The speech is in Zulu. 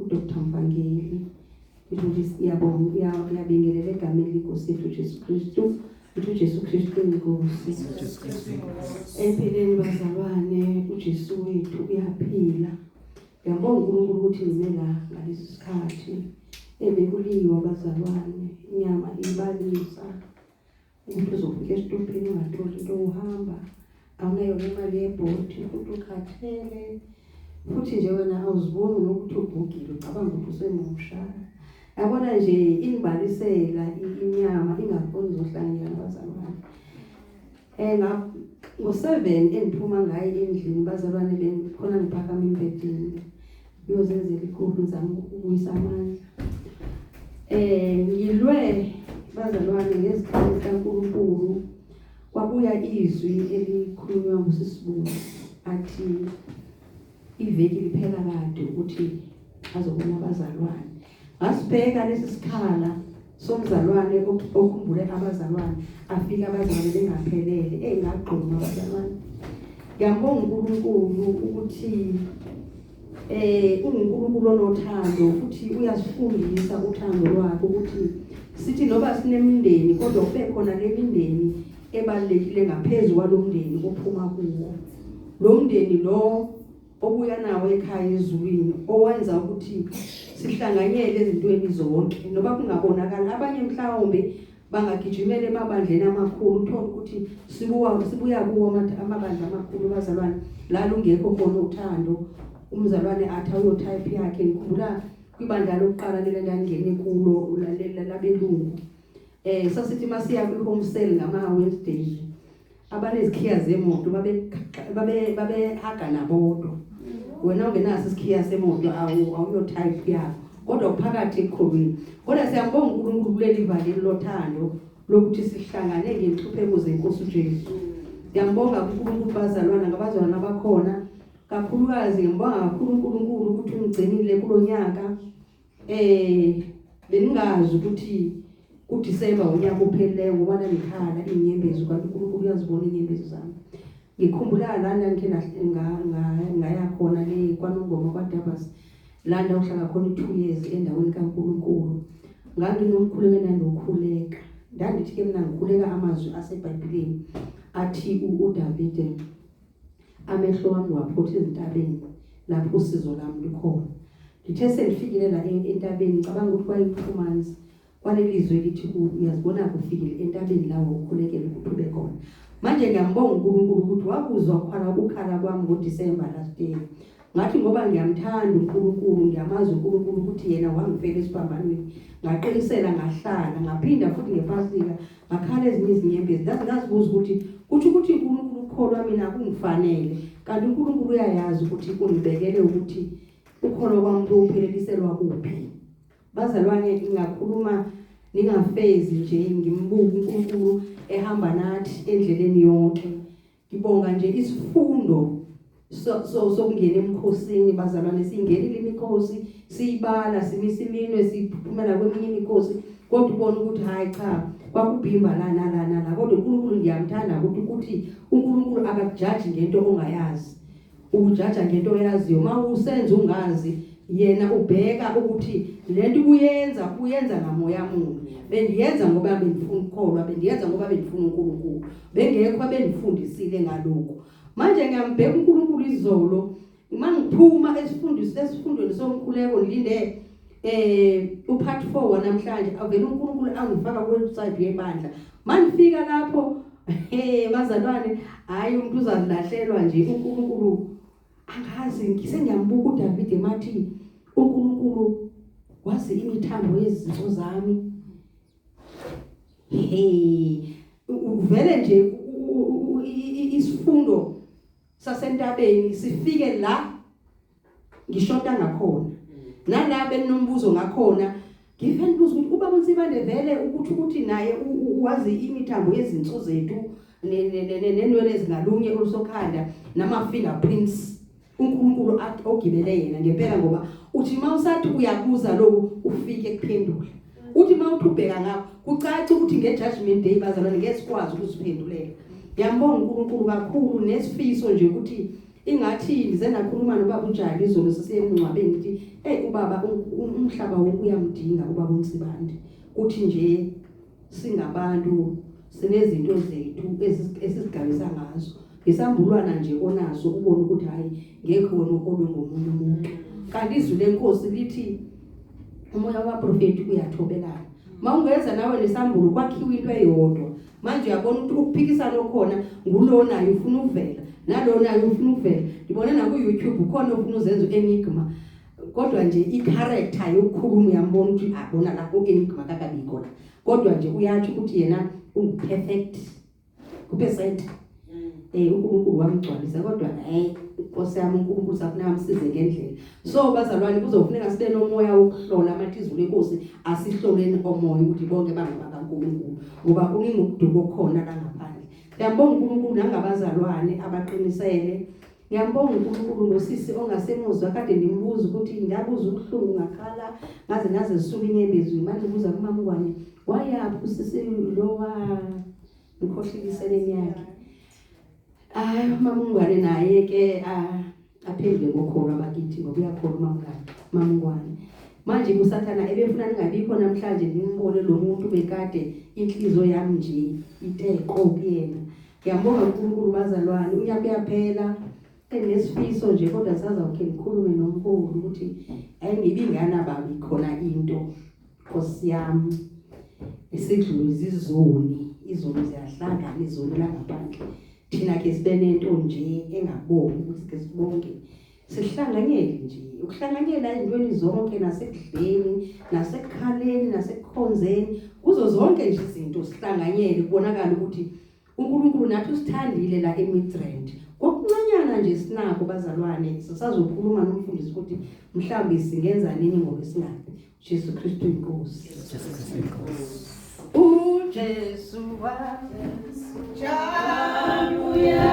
udr mvangeli ukuthi siyabonga uyabingelela egameni lenkosi yethu jesu kristu ukuthi ujesu kristu inkosi empilweni bazalwane ujesu wethu uyaphila ngiyabonga unkulunkulu ukuthi ngime la ngalesi sikhathi ebekuliwa bazalwane inyama ibalisa Umuntu uzofika esitobhini ungatholi into uhamba awunayo nemali yebhodi futhi ukhathele futhi nje wena awuziboni nokuthi ugugile ucabanga ukuthi usemusha yabona nje inibalisela inyama ingafuni zohlangela abazalwane um ngo-seven endiphuma ngayo endlini bazalwane bem khona ngiphakama embedini Ngiyozenzela ikhulu ngizama ukubuyisa amandla. Eh ngilwe bazalwane ngezikhathi zikaNkulunkulu kwabuya izwi elikhulunywa ngusisibulo athi iveki liphela kade ukuthi azobona abazalwane Ngasibheka lesi sikhala somzalwane okhumbule abazalwane afika abazalwane bengaphelele engagquma abazalwane ngiyambonga uNkulunkulu ukuthi eh uNkulunkulu onothando futhi uyasifundisa uthando lwakhe ukuthi sithi noba sinemindeni kodwa kube khona lemindeni ebalekile ngaphezulu kwalomndeni ophuma kuwo lo mndeni lo obuya nawo ekhaya ezulwini owenza ukuthi sihlanganyele ezintweni zonke noba kungabonakali abanye mhlawumbe bangagijimela emabandleni amakhulu uthole ukuthi sibuwa sibuya kuwo amabandla amakhulu bazalwane la lungekho khona uthando umzalwane athi ayotype yakhe ngikhumbula kwibandla lokuqala lele ndangene kulo ulalela labelungu eh sasithi masiya kwi-home sale ngama-wednesday abanezikhiya zemoto babehaga nabodwa wena ungenaso isikhiya semoto awuyo type yabo kodwa kuphakathi eqhulwini kodwa siyambonga unkulunkulu kuleli vali lothando lokuthi sihlangane ngenhlupheko zenkosi ujesu ngiyambonga kunkulunkulu bazalwana ngabazalwana abakhona kakhulukazi ngiyambonga kakhulu unkulunkulu ukuthi ungigcinile kulo nyaka Eh beningazi ukuthi uDisemba unyaka ophelileyo ngoba nangikhala inyembezi kanti uNkulunkulu uyazibona inyembezi zami. Ngikhumbula lana ngike ngaya khona le kwaNongoma kwaDabas la ndawuhlala khona i-two years endaweni kaNkulunkulu. Nganginomkhuleko endangiwukhuleka. Ndangithi-ke mina ngikhuleka amazwi asebhayibhileni athi uDavide amehlo wami waphotha ezintabeni lapho usizo lami likhona ngithe sengifikile la entabeni ngicabanga ukuthi kwayi-two months kwalelizwe lithi uyazibona kufikile entabeni lawo ukhulekele ukuthi ube khona manje ngiyambonga uNkulunkulu ukuthi wakuzwa ukukhala ukukhala kwami ngoDisemba last year Ngathi ngoba ngiyamthanda uNkulunkulu, ngiyamazi uNkulunkulu ukuthi yena wangifela esiphambanweni. Ngaqinisela ngahlala, ngaphinda futhi ngepasika, ngakhala ezinye izinyembezi. Ngaze ngazibuza ukuthi kusho ukuthi uNkulunkulu ukholwa mina kungifanele. Kanti uNkulunkulu uyayazi ukuthi ungibekele ukuthi ukholo kwami kuphelelisela kuphi. Bazalwane ngingakhuluma ningafezi nje ngimbuka uNkulunkulu ehamba nathi endleleni yonke. Ngibonga nje isifundo so so sokungena emkhosini bazalwane singenile imikhosi siyibala simisa iminwe siphumela kweminye imikhosi kodwa ubona ukuthi hayi cha kwakubhimba lana lana la kodwa uNkulunkulu ngiyamthanda ukuthi ukuthi uNkulunkulu akakujaji ngento ongayazi Ujaja ngento oyaziyo uma usenza ungazi yena ubheka ukuthi lento ubuyenza uyenza ngamoya muni bendiyenza ngoba bengifuna ukukholwa bendiyenza ngoba bengifuna uNkulunkulu bengekho abengifundisile ngaloko manje ngiyambheka uNkulunkulu izolo uma ngiphuma esifundweni sesifundweni somkhuleko ngilinde eh upart 4 wanamhlanje avele uNkulunkulu angifaka kuwebsite yebandla mandifika lapho eh bazalwane hayi umuntu uzalahlelwa nje uNkulunkulu angazi ngisengiyambuka uDavid emathi uNkulunkulu wazi imithambo yezinto zami hey uvele nje isifundo sasentabeni sifike la ngishoda ngakhona nala beninombuzo ngakhona ngivele ngibuza ukuthi ubaba uNsibande vele ukuthi ukuthi naye uwazi imithambo yezinso zethu nenwele ezingalunye olusokhanda nama-fingerprints unkulunkulu ogibele yena ngempela ngoba uthi uma usathi uyabuza loku ufike kuphendula uthi uma uthi ubheka ngakho kucace ukuthi nge-judgment day bazalwane ngeke sikwazi ukuziphendulela ngiyambonga unkulunkulu kakhulu nesifiso nje ukuthi ingathi ngize nakhuluma nobaba unjani izolo sisemngcwabeni ukuthi hey ubaba umhlaba wonke uyamdinga ubaba uNsibande kuthi nje singabantu sinezinto zethu esizigabisa ngazo ngisambulwana nje onaso ubona ukuthi hayi ngeke wena ukolwe ngomunye umuntu kanti izwi lenkosi lithi umoya wabaprofeti uyathobelana mawungeza nawe lesambulo kwakhiwa into eyodwa manje uyabona ukuthi ukuphikisana okhona ngulo naye ufuna ukuvela nalo naye ufuna ukuvela ngibona naku-youtube ukhona ofuna uzenza u-enigma kodwa nje i-character yokukhuluma uyambona ukuthi abona ah, la u-enigma kakabikho la kodwa nje uyatsho ukuthi yena ungu-perfect kube senta Eh uNkulunkulu wamgcwalisa kodwa hey Nkosi yami uNkulunkulu safuneka amsize ngendlela. So bazalwane kuzofuneka sibe nomoya wokuhlola amathi izulu inkosi asihloleni omoya ukuthi bonke bangaba kaNkulunkulu ngoba kuningi ukuduka okhona la ngaphandle. Ngiyabonga uNkulunkulu nangabazalwane abaqinisele. Ngiyabonga uNkulunkulu ngosisi ongasemuzwa kade ngimbuza ukuthi ngiyabuza ubuhlungu ngakhala ngaze ngaze zisuka inyembezi manje ubuza kumama wami wayaphi usisi lowa ngikhohlile iseneni yakhe hayi umamungwane naye ke aphendle ngokholwa bakithi ngoba uyakholwa umamngane mamungwane manje kusathana ebefuna ningabikho namhlanje nimbone lo muntu bekade inhliziyo yami nje iteqo kuyena ngiyambonga unkulunkulu bazalwane unyaka uyaphela enesifiso nje kodwa sazawukhe ngikhulume nomkhulu ukuthi ayingibi nganababi khona into Nkosi yami isidlule izizoni izoni ziyahlangana izoni langaphandle thina ke sibe nento nje engabongi ukuthi ke sibonke sihlanganyele nje ukuhlanganyela ezintweni zonke nasekudleni nasekukhaleni nasekukhonzeni kuzo zonke nje izinto sihlanganyele kubonakala ukuthi uNkulunkulu nathi usithandile la eMidrand ngokuncanyana nje sinako bazalwane sisazokhuluma nomfundisi ukuthi mhlawumbe singenza nini ngokwesingabi Jesu Kristu inkosi Jesu Kristu inkosi uJesu waJesu jabuya